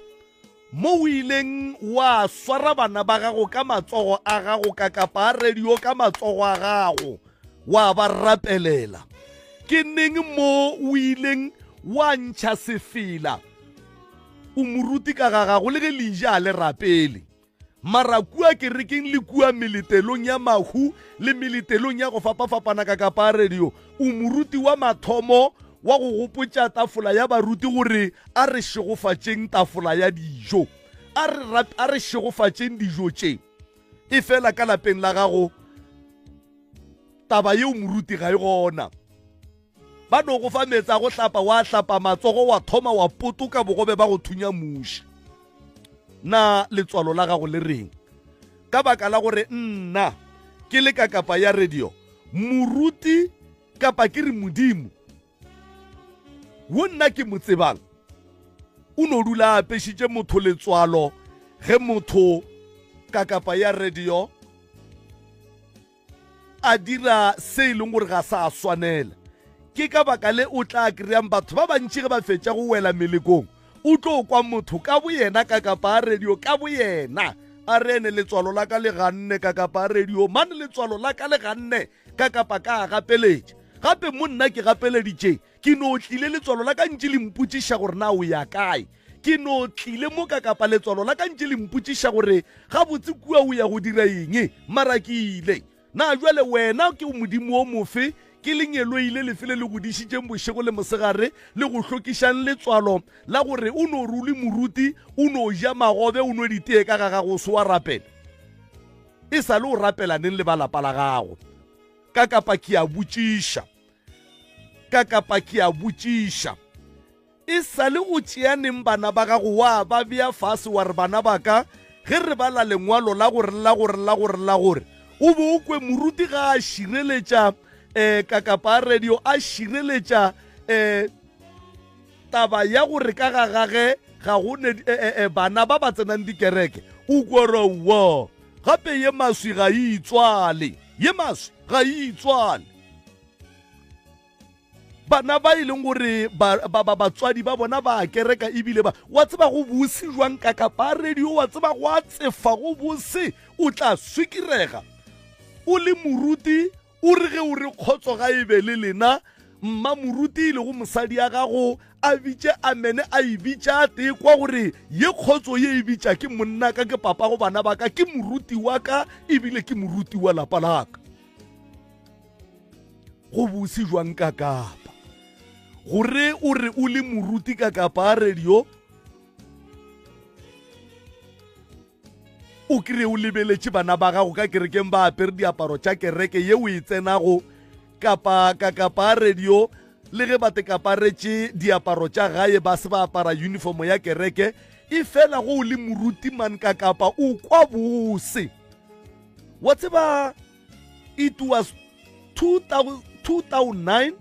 mo o ileng wa swara bana ba gago ka matsogo a gago, ka kapa a radio ka matsogo a gago, wa ba rapelela? Ke neng mo o ileng wa ntšha sefela o moruti ka ga gago le ge leija a le rapele? Mara kua kerekeng le kua meletelong ya mahu le meletelong ya go fapafapana ka kapaarediyo, o moruti wa mathomo wa go gopotša tafola ya baruti gore a re šegofatšeng tafola ya dijo. A re, rap, a re šegofatšeng dijo tše. Efela ka lapeng la gago, taba yeo moruti ga e gona. Ba no go fa meetse a go hlapa, wa hlapa matsogo, wa thoma wa potoka bogobe ba go thunya muši. Na letswalo la gago le reng? Ka baka la gore nna ke le ka kapa ya radio, moruti kapa ke re modimo wo nna ke mo tsebang o no dula a apešitše motho letswalo ge motho ka kapa ya radio a dira se e leng gore ga sa swanela ke ka baka le o tla kry-ang batho ba bantši ge ba fetša go wela melekong o tlo kwa motho ka boyena ka kapa a radio ka boyena a re ene letswalo la ka le ganne ka kapa a radio mane letswalo la ka le ganne ka kapa ka a gapeletša gape mo nna ke gapeleditšeng Ke no tlile letswalo la ka ntše le mpotšiša gore na o ya kae. Ke no tlile moka kapa letswalo la ka ntše le mpotšiša gore gabotse kua o ya go dira eng. Mara ke ile. Na bjale Wena ke Modimo o mofe? Ke lengeloile lefe le le go dišitšeng bošego le mosegare le go hlokišang letswalo la gore o no re o le moruti, o no ja magobe, o nwe ditee ka ga gago o se wa rapela? E sa le o rapela neng le ba lapa la gago? Ka kapa ke a botšiša. ka kapa ke a botšiša e sa le o tšeaneng bana ba gago wa ba bea fase wa re bana ba ka ge re bala lengwalo la gore la gore la gore la gore o be o kwe moruti ga a šireletša um ka kapa a radio a šireletša um taba ya gore ka ga gage ga go ne e, e, e, bana ba ba tsenang dikereke o korowo gape ye maswi ga e itswale ye maswi ga e itswale bana ba e leng gore batswadi ba bona ba kereka ebile ba wa tseba go bose jwang ka kapa radio wa tseba go a tsefa go bose o tla swikirega o le moruti o re ge o re kgotso ga e be le lena mma moruti e lego mosadi ya gago a bitše a mene a e bitša tee kwa gore ye kgotso ye e bitša ke monna ka ke papa go bana ba ka ke moruti wa ka ebile ke moruti wa lapa laka go bose jwang ka kapa gore o re o le moruti ka kapa a radio o kry o lebeletše bana ba gago ka kerekeng ba apere diaparo tša kereke ye o e tsenago kapa ka kapa radio le ge ba te kaparetše diaparo tša gae ba se ba apara uniformo ya kereke e fela go o le moruti man ka kapa o kwa bose wa tseba it was 2009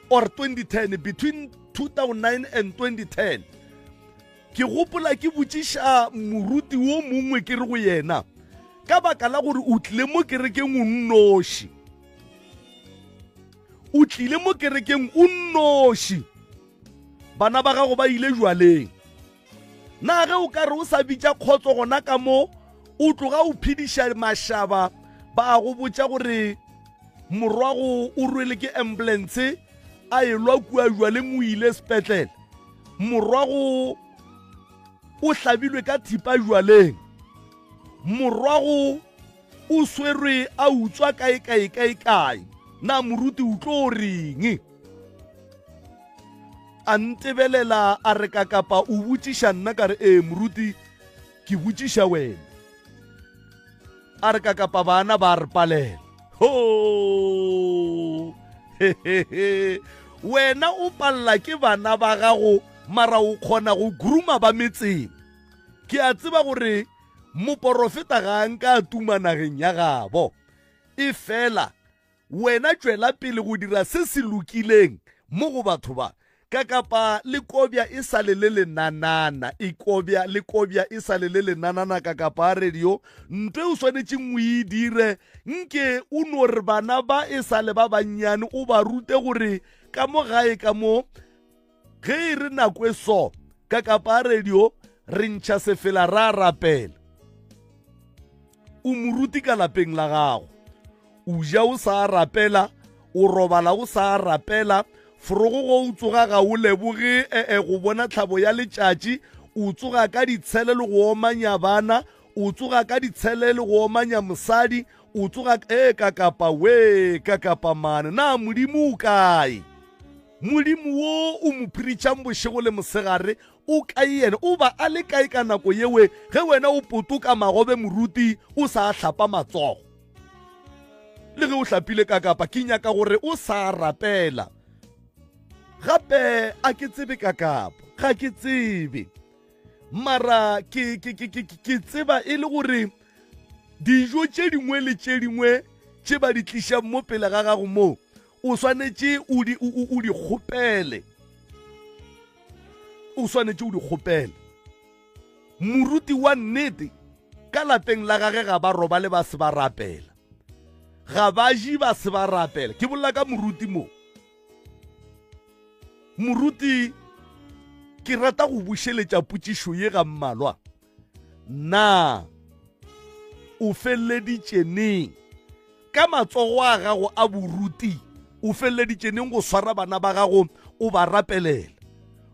or 2010 between 2009 and 2010 ke gopola ke botšiša moruti wo mongwe ke re go yena ka baka la gore o tlile mo kerekeng o nnoši o tlile mo kerekeng o nnoši bana ba gago ba ile jwaleng na ge o ka re o sa bitša kgotso gona ka mo o tloga o phediša mašaba ba go botša gore morwago o rwele ke ambulance a elwa kua jwaleng o ile sepetlele morwago o hlabilwe ka thipa jwaleng morwago o swerwe a utswa kae kae kae kae na moruti o tlo reng a ntebelela a re ka kapa o botšiša nna ka re ee moruti ke botšiša wena a re ka kapa bana ba re palela ho wena o palela ke bana ba gago mara o kgona go gruma ba metseng ke a tseba gore moporofeta ga a nka a tuma nageng ya gabo e fela Wena tšwela pele go dira se se lokileng mo go batho ba, ka kapa le kobja e sa le le lenanana, e kobja, le kobja e sa le le lenanana, ka kapa a re yo, nto e o swanetšeng o e dire, nke o no re bana ba e sa le ba bannyane o ba rute gore ka mo gae ka mo, Ge e re nako e so, ka kapa radio re ntšha sefela ra rapela. O moruti ka lapeng la gago. O ja o sa rapela, o robala o sa rapela, forogo go o tsoga ga o leboge ee eh, eh, go bona tlhabo ya letšatši, o tsoga ka ditshele le go omanya bana, o tsoga ka ditshele le go omanya mosadi o tsoga e ka kapa we ka kapa mane na modimo o kae Molimo wo o mo phiritšang bošego le mosegare o kae yena? O ba a le kae ka nako yewe ge wena o potoka magobe moruti o sa hlapa matsogo? Le ge o hlapile ka kapa ke nyaka gore o sa rapela. Gape a ke tsebe ka kapa, ga ke tsebe. Mara ke, ke, ke, ke, ke tseba e le gore dijo tše dingwe le tše dingwe tše ba di tlišang mo pele ga gago moo o swanetše o di, o, o, o di kgopele o swanetše o di kgopele moruti wa nnete ka lapeng la gage ga ba robale ba se ba rapela ga ba je ba se ba rapela ke bolela ka moruti mo moruti ke rata go bušeletša potšišo ye ga mmalwa Na o feleleditše neng ka matsogo a gago a boruti? O feleleditše neng go swara bana ba gago o ba rapelela?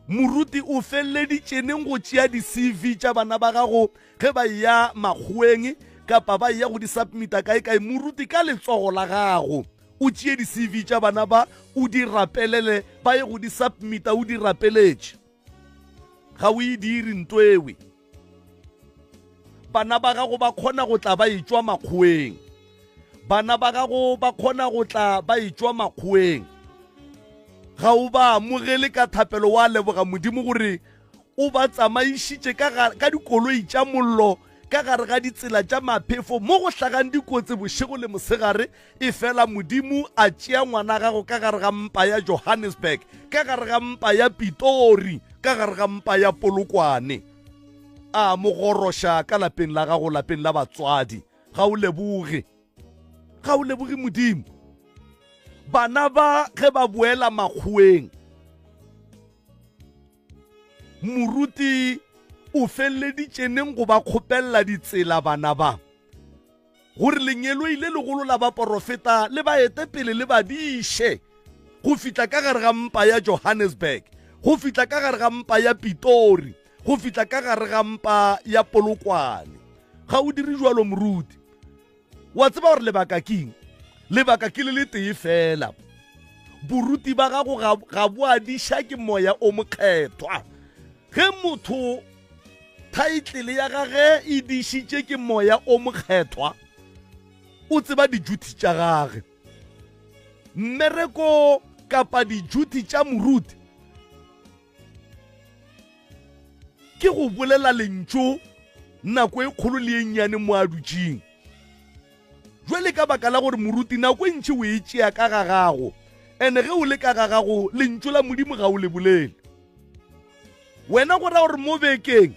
Moruti o feleleditše neng go tšea di-CV tša bana ba gago ge ba ya makgoeng kapa ba ya go di submita kae kae? Moruti ka letsogo la gago o tšee di-CV tša bana ba o di rapelele ba ye go di submita o di rapeletše. Ga o e dire ntoewe. Bana ba gago ba kgona go tla ba etšwa makgoeng. Bana ba gago ba kgona go tla ba etšwa makgoeng. Ga o ba amogele ka thapelo wa leboga Modimo gore o ba tsamaišitše ka dikoloi tša mollo ka gare ga ditsela tša maphefo mo go hlagang dikotsi bošego le mosegare Efela Modimo a tšea ngwana gago ka gare ga mpa ya Johannesburg, ka gare ga mpa ya Pitori, ka gare ga mpa ya Polokwane. A mo goroša ka lapeng la gago, lapeng la batswadi. Ga o leboge? Ga o leboge Modimo? Bana ba ge ba boela makgoweng, moruti o feleleditšeneng go ba kgopelela ditsela bana ba? gore lengeloi le legolo la baporofeta le ba ete pele le ba diše go fihla ka gare ga mpa ya Johannesburg, go fihla ka gare ga mpa ya Pitori, go fihla ka gare ga mpa ya Polokwane. Ga o dire jalo, moruti. Wa tseba gore lebaka keng? Lebaka ke le le tee fela. Boruti ba gago ga, ga bo adiša ke moya o mokgethwa. Ge motho thaitlele ya gage e dišitše ke moya o mokgethwa, o tseba dijuthi tša gage. Mmereko kapa dijuthi tša moruti ke go bolela lentšu nako e kgolo le e nnyane mo a dutšeng. Jwale ka baka la gore moruti nako e ntši o e tšea ka ga gago, ene ge o le ka ga gago lentšu la Modimo ga o le bolele. Wena go ra gore mo bekeng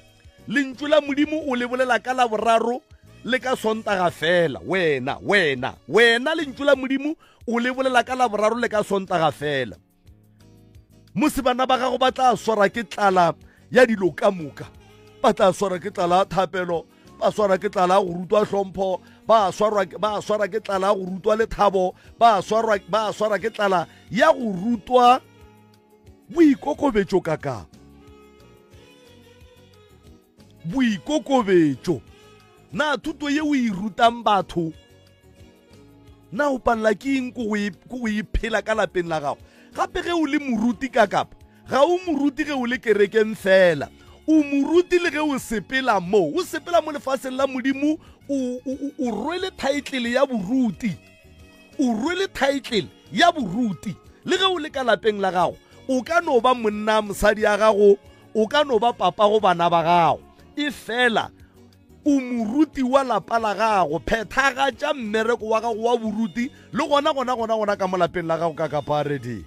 lentšu la Modimo o le bolela ka laboraro le ka sontaga fela. Wena, wena, wena lentšu la Modimo o le bolela ka laboraro le ka sontaga fela. Mose bana ba gago ba tla swara ke tlala ya dilo ka moka. Ba tla swara ke tlala thapelo, ba swara ke tlala go rutwa hlompho, ba swara ba swara ke tlala go rutwa lethabo, ba swara ba swara ke tlala ya go rutwa Boikokobetšo ka ka Boikokobetšo Na thuto ye o e rutang batho Na o palela ke eng ko go e phela ka lapeng la gago Gape ge o le moruti ka kapa Ga o moruti ge o le kerekeng fela O moruti le ge o sepela mo O sepela mo lefaseng la Modimo O, o, o, o rwele thaetlele ya boruti o rwele thaetlele ya boruti le ge o le ka lapeng la gago o ka no ba monna mosadi ya gago o ka no ba papa go bana ba gago e fela o moruti wa lapa la gago phethagatša mmereko wa gago wa boruti le gona gona gona gona ka mo lapeng la gago ka kapareding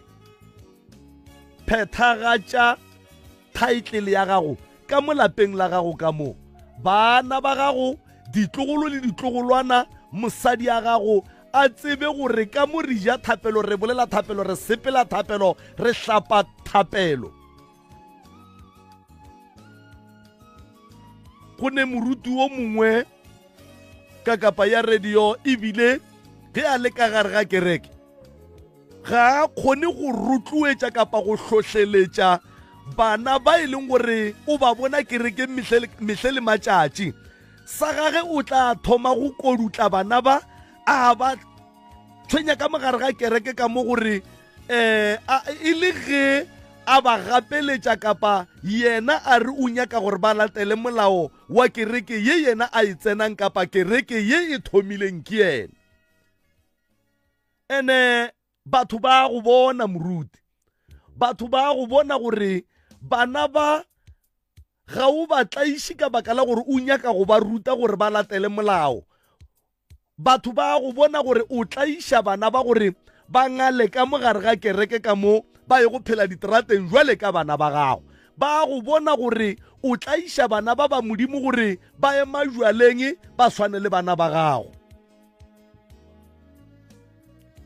phethagatša Thaetlele ya gago ka mo lapeng la gago ka mo, baana ba gago, ditlogolo le ditlogolwana, mosadi a gago, a tsebe gore ka mo re ja thapelo, re bolela thapelo, re sepela thapelo, re hlapa thapelo. Go ne moruti wo mongwe ka kapa ya radio e bile ge a le ka gare ga kereke, ga a kgone go rotloetša kapa go hlohleletša bana ba e leng gore o ba bona kerekeng mehle le matšatši sa gage o tla thoma go kodutla bana ba a ba tshwenya ka mogare ga kereke ka mo gore um e le ge a ba gapeletša kapa yena a re o nyaka gore ba latele molao wa kereke ye yena a e tsenang kapa kereke ye e thomileng ke yena ene batho ba go bona moruti batho ba go bona gore bana ba ga o ba tlaiše ka baka la gore o nyaka go ba ruta gore ba latele molao batho ba go bona gore o tlaiša bana ba gore ba ngale ka mo gare ga kereke ka mo ba ye go phela diterateng jwale ka bana ba gago ba go bona gore o tlaiša bana ba ba modimo gore ba ye majwaleng ba swane le bana ba gago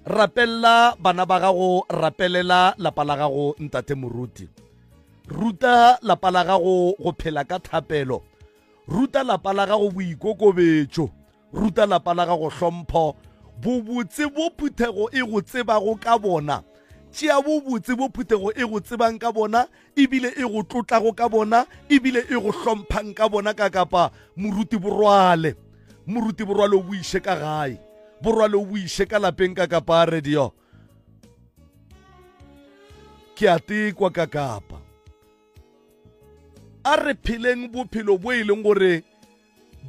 rapelela bana ba gago rapelela lapa la gago ntate moruti ruta lapa la gago go phela ka thapelo ruta lapa la gago boikokobetšo ruta lapa la gago hlompho bobotse bo phuthego e go tsebago ka bona tšea bobotse bo phuthego e go tsebang ka bona ebile e go tlotlago ka bona ebile e go hlomphang ka bona ka kapa moruti borwale moruti borwale o boiše ka gae borwale o boiše ka lapeng ka kapa radio ke a tekwa ka kapa a re pheleng bophelo bo e leng gore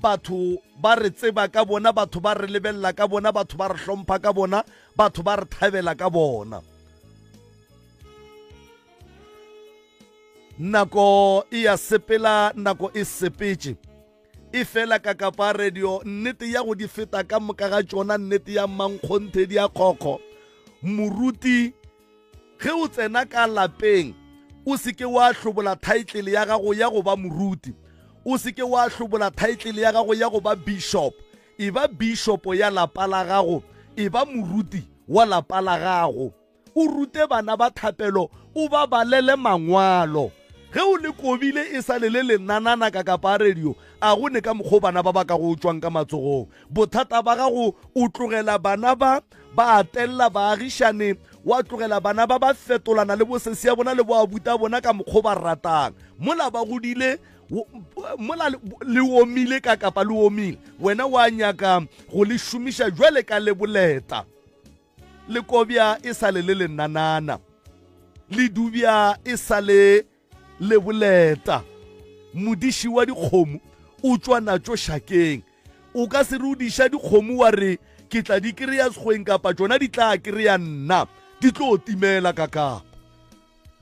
Batho ba re tseba ka bona, batho ba re lebelela ka bona, batho ba re hlompha ka bona, batho ba re thabela ka bona. Nako e ya sepela, nako e sepetše e fela ka kapa radio nnete ya go di feta ka moka ga tšona nnete ya mankgonthe di a kgokgo moruti Ge o tsena ka lapeng, o se ke wa hlobola thaetlele ya gago ya go ba moruti. O se ke wa hlobola thaetlele ya gago ya go ba bišopo. Eba bišopo ya lapa la gago. Eba moruti wa lapa la gago. O rute bana ba thapelo, o ba balele Mangwalo. Ge o le kobile e sa le le lenanana ka kapaarediyo, a go ne ka mokgwa o bana ba ba ka go tšwang ka matsogong? Bothata ba gago o tlogela bana ba ba atella baagišane, wa tlogela bana ba ba fetolana le bosesi ya bona le boabuta bona ka mokgwa ba ratang. Mola ba godile mola le omile ka kapa le omile, wena wa nyaka go le šomiša jwale ka le boleta. Le kobja e sa le le lenanana, le dubja e sa le Leboleta, modiši wa dikgomo, o tšwa natšo šakeng. O ka se re o diša dikgomo wa re, Ke tla di kry-a sekgweng kapa tšona di tla kry-a nna. Di tlo timela ka kapa.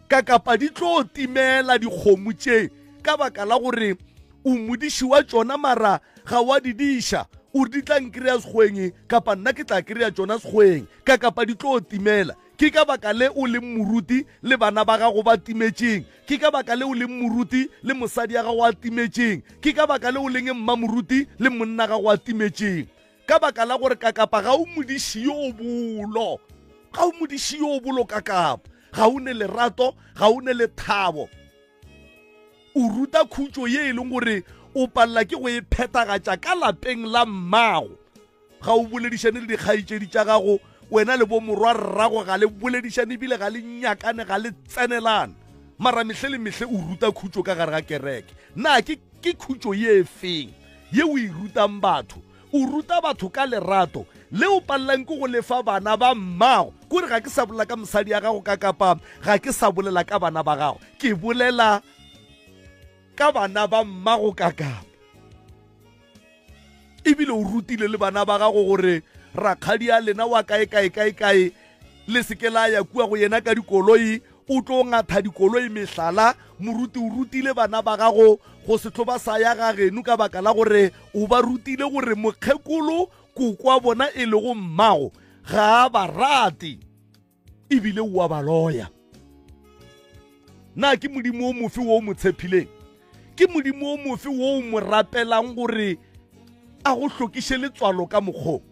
Ka kapa di tlo timela dikgomo tše ka baka la gore o modiši wa tšona mara ga wa di diša o re di tla nkry-a sekgweng kapa nna ke tla kry-a tšona sekgweng ka kapa di tlo timela. Ke ka baka le o leng moruti le bana ba gago ba timetšeng. Ke ka baka le o leng moruti le mosadi ya gago a timetšeng. Ke ka baka le o leng mmamoruti le monna gago a timetšeng. Ka baka la gore kakapa ga o modiši yo o bolo. Ga o modiši yo o bolo kakapa. Ga o ne lerato, ga o ne lethabo. O ruta khutšo ye e leng gore o palela ke go e phethagatša ka lapeng la mmago. Ga o boledišane le dikgaetšedi tša gago, wena le bomorwarrago ga le boledišane e bile ga le nyakane, ga le tsenelane. Mara mehle le mehle o ruta khutšo ka gare ga kereke. Na ke, ke khutšo ye feng ye o e rutang batho? O ruta batho ka lerato le o palellang ke go le fa bana ba mmago. Ke gore ga ke sa bolela ka mosadi ya gago ka kapa ga ke sa bolela ka bana ba gago. Ke bolela ka bana ba mmago ka kapa. ebile o rutile le bana ba gago gore rakgadi a lena wa kae kae kae kae le seke la ya kua go yena ka dikoloi o tlo ngatha dikoloi mehlala moruti o rutile bana ba gago go se tlo ba sa ya ga genu ka baka la gore o ba rutile gore mokgekolo kokwa bona e lego mmago ga a ba rate e bile o a ba loya na ke modimo o mofe wo o mo tshepileng ke modimo o mofe wo o mo rapelang gore a go hlokiše letswalo ka mokgong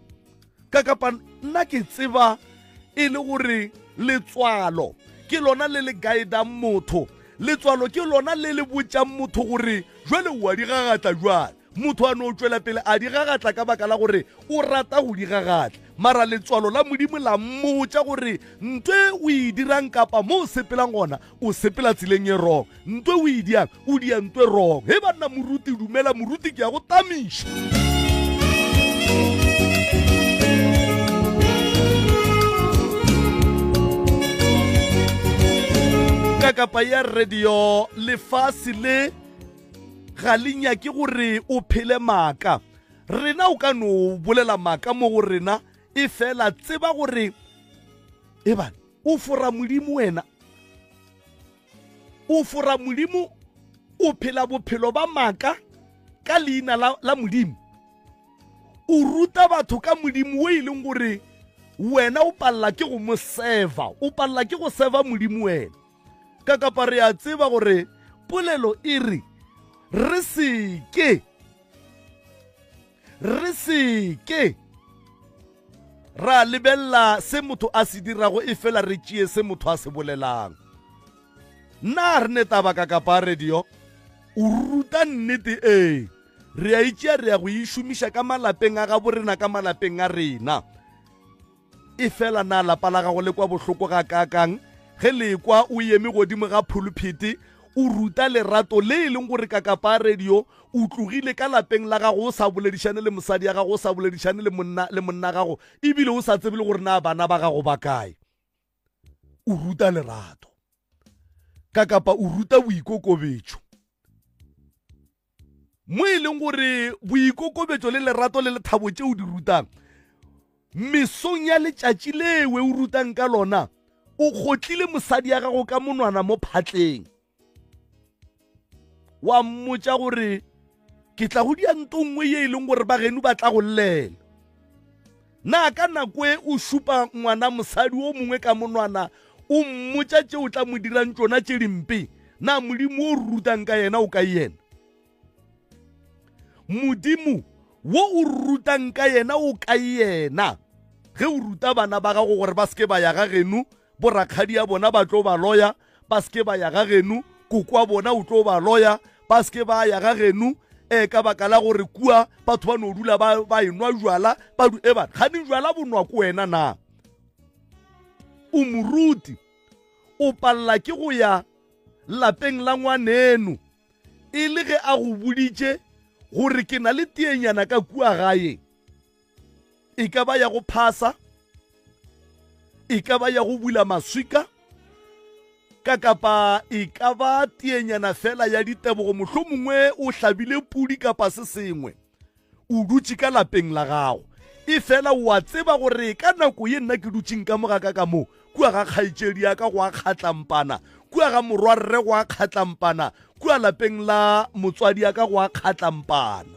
ka kapa nna ke tseba e le gore letswalo ke lona le le guidang motho letswalo ke lona le le botšang motho gore jale o a di gagatla jale Motho a no tšwela pele a di gagatla ka baka la gore o rata go di gagatla. Mara letswalo la Modimo la mmotša gore nto e o e dirang kapa mo o sepelang gona, o sepela tseleng e wrong. Nto e o e diang, o dia nto e wrong. Hei banna, moruti, dumela moruti, ke ya go tamiša. ka kapa ya radio lefase le ga le nyake gore o phele maaka rena o ka no bolela maaka mo go rena e fela tseba gore e bana o fora modimo wena o fora modimo o phela bophelo ba maaka ka leina la, la modimo o ruta batho ka modimo o e leng gore wena o palela ke go mo serva o palela ke go serva modimo wena Ka kapa re a tseba gore polelo e re, Re se ke. Re se ke. Ra lebelela se motho a se dirago e fela re tšee se motho a se bolelang. Na re ne taba ka kapa radio? O ruta nnete ee. Re a itšea re ya go e šomiša ka malapeng a gabo rena ka malapeng a rena. Efela na lapa la gago le kwa bohloko gakaakang ge le ekwa o eme godimo ga phuluphiti o ruta lerato le e leng gore kakapa a radio o tlogile ka lapeng la gago o sa boledišane le mosadi ya gago o sa boledišane le monna le monna gago ebile o sa tsebe le gore na bana ba gago ba kae? o ruta lerato ka kapa o ruta boikokobetšo mo e leng gore boikokobetšo le lerato le lethabo tšeo di rutang mesong ya letšatši lewe o rutang ka lona o kgotlile mosadi ya gago ka monwana mo phatleng wa mmotša gore ke tla go dia nto nngwe ye e leng gore bageno ba tla go llela na ka nako e o šupa ngwana mosadi o mongwe ka monwana o mmotša tše o tla mo dirang tšona tše dimpe na modimo o rutang ka yena o ka yena modimo wo o rutang ka yena o ka yena ge o ruta bana ba gago gore ba seke ba ya ga genu borakgadi ya bona ba tlo ba loya ba seke ba ya ga genu kokwa bona o tlo ba loya ba seke ba ya ga genu e ka baka la gore kua batho ba no dula ba, ba enwa jwala ba du ebana ga ne jwala bonwa ko wena na o moruti o palela ke go ya lapeng la ngwaneno e le ge a go boditše gore ke na le teenyana ka kua gaeng e ka ba ya go phasa e ka ba ya go bula maswika ka kapa e ka ba teenyana fela ya ditebogo mohlomongwe o hlabile pudi kapa se sengwe O dutše ka lapeng la gago. Efela o a tseba gore ka nako ye nna ke dutšeng ka moga ka ka mo, kua ga kgaetšedi ya ka go a kgatlampana, kua ga morwa rre go a kgatlampana, kua lapeng la motswadi ya ka go a kgatlampana.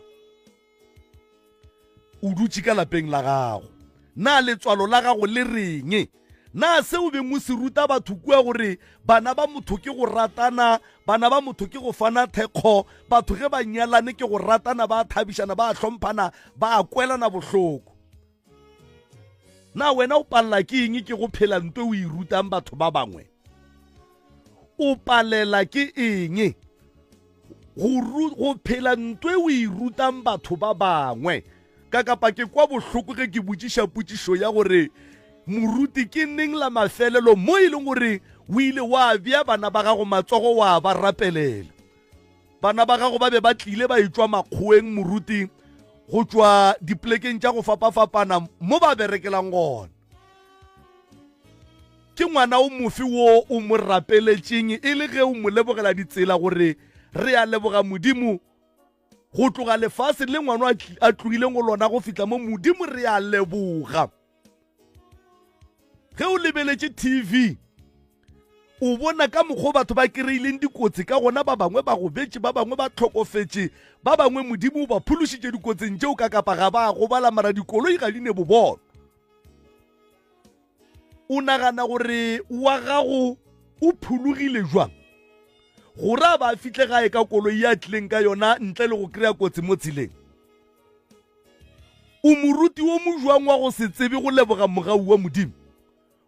O dutše ka lapeng la gago. Na letswalo la gago le reng? Na se o beng o se ruta batho kua gore bana ba motho ke go ratana, bana ba motho ke go fana thekgo, batho ge ba nyalane ke go ratana, ba a thabišana, ba a hlomphana, ba a kwelana bohloko? Na wena o palela ke eng ke go phela nto o e rutang batho ba bangwe? O palela ke eng? go phela nto e o e rutang batho ba bangwe ka kapa ke kwa bohloko ge ke botšiša potšišo ya gore moruti ke neng la mafelelo mo e leng gore o ile wa bja bana ba gago matsogo wa ba rapelela bana ba gago ba be ba tlile ba etswa makgoeng moruti go tšwa dipolekeng tša go fapafapana mo ba berekelang gona Ke ngwana o mofe wo o mo rapeletšeng e le ge o mo lebogela ditsela gore re a leboga Modimo go tloga lefaseng le ngwano a tlogileng go lona go fihla mo? Modimo re a leboga. Ge o lebeletše TV o bona ka mokgwa batho ba kry-ileng dikotsi ka gona ba bangwe ba gobetše ba bangwe ba tlhokofetše ba bangwe modimo o ba phološitše dikotsing tšeo ka kapa ga ba gobala mara dikoloi ga di ne bobolo o nagana gore wa gago o phologile jwang gore a ba a fihle gae ka koloi ya tlileng ka yona ntle le go kry-a kotsi mo tseleng o moruti wo mojwang wa go se tsebe go leboga mogau wa modimo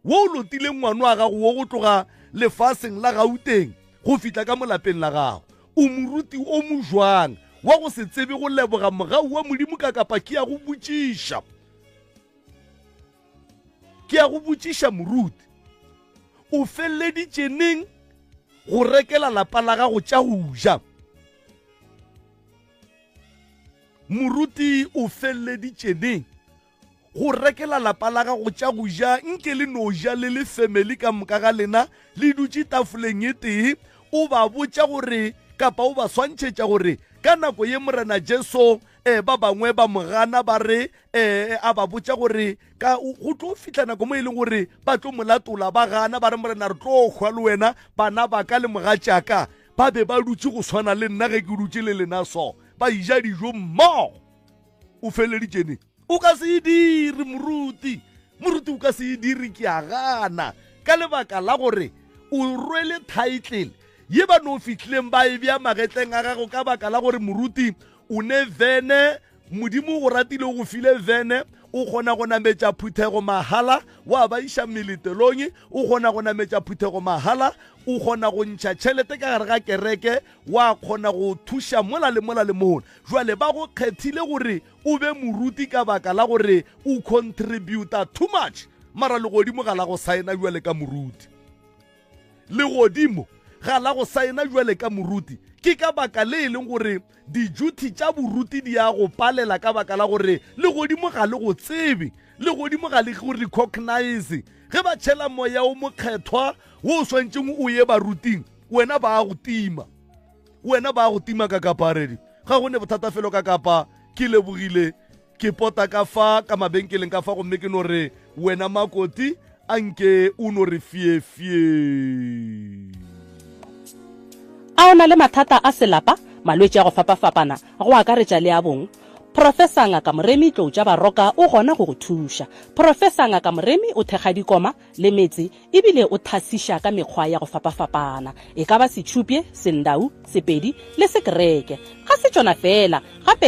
wo o lotileng ngwano wa gago wo go tloga lefaseng la gauteng go fihla ka molapeng la gago o moruti o mojwang wa go se tsebe go leboga mogau wa modimo ka kapaki ya go botšiša Ke ya go botšiša moruti, o feleleditše neng go rekela lapa la gago tša go ja? Moruti o feleleditše neng go rekela lapa la gago tša go ja nke le no ja le le family ka moka ga lena le dutše tafoleng e tee o ba botša gore kapa o ba swantšhetša gore ka nako ye morena jesu Ee, ba bangwe ba mo gana ba re ee, a ba botša gore ka go tlo fihla nako mo e leng gore ba tlo mo latola ba gana ba re morena re tlo hwa le wena bana ba ka le mogatšaka ba be ba dutše go swana le nna ge ke dutše le lena so ba ija dijo mmogo o feleditšene o ka se e dire moruti moruti o ka se e dire ke a gana ka lebaka la gore o rwele title ye ba no fihlileng ba e bja magetleng a gago ka baka la gore moruti O ne vene, Modimo o ratile o go file vene, o kgona go nametša phuthego mahala, wa ba iša meletelong, o kgona go nametša phuthego mahala, o kgona go ntšha tšhelete ka gare ga kereke, wa kgona go thuša mola le mola le mola. Jwale ba go kgethile gore o be moruti ka baka la gore o contributa too much, mara legodimo ga la go saena bjale ka moruti. Legodimo ga la go saena bjale ka moruti. Ke ka baka le e leng gore dijuthi tša boruti di a go palela ka baka la gore legodimo ga le go tsebe. Legodimo ga le go recognize. Ge ba tšhela moya o mokgethwa wo o swantšeng o ye baruting, wena ba a go tima. Wena ba a go tima ka kapa radio. Ga go ne bothata felo ka kapa ke lebogile Ke pota ka fa ka mabenkeleng ka fa gomme ke no re, Wena Makoti, a nke o no re fye-fye. A o na le mathata a selapa, malwetši a go fapa-fapana, go akaretša le a bong? Professor Ngaka Moremi Tloutša Baroka o gona go go thuša. Professor Ngaka Moremi o thekga dikoma le metse e bile o thasiša ka mekgwa ya go fapa-fapana, e ka ba Setšhupje, Sendau, Sepedi le Sekereke. Ga se tšona feela, gape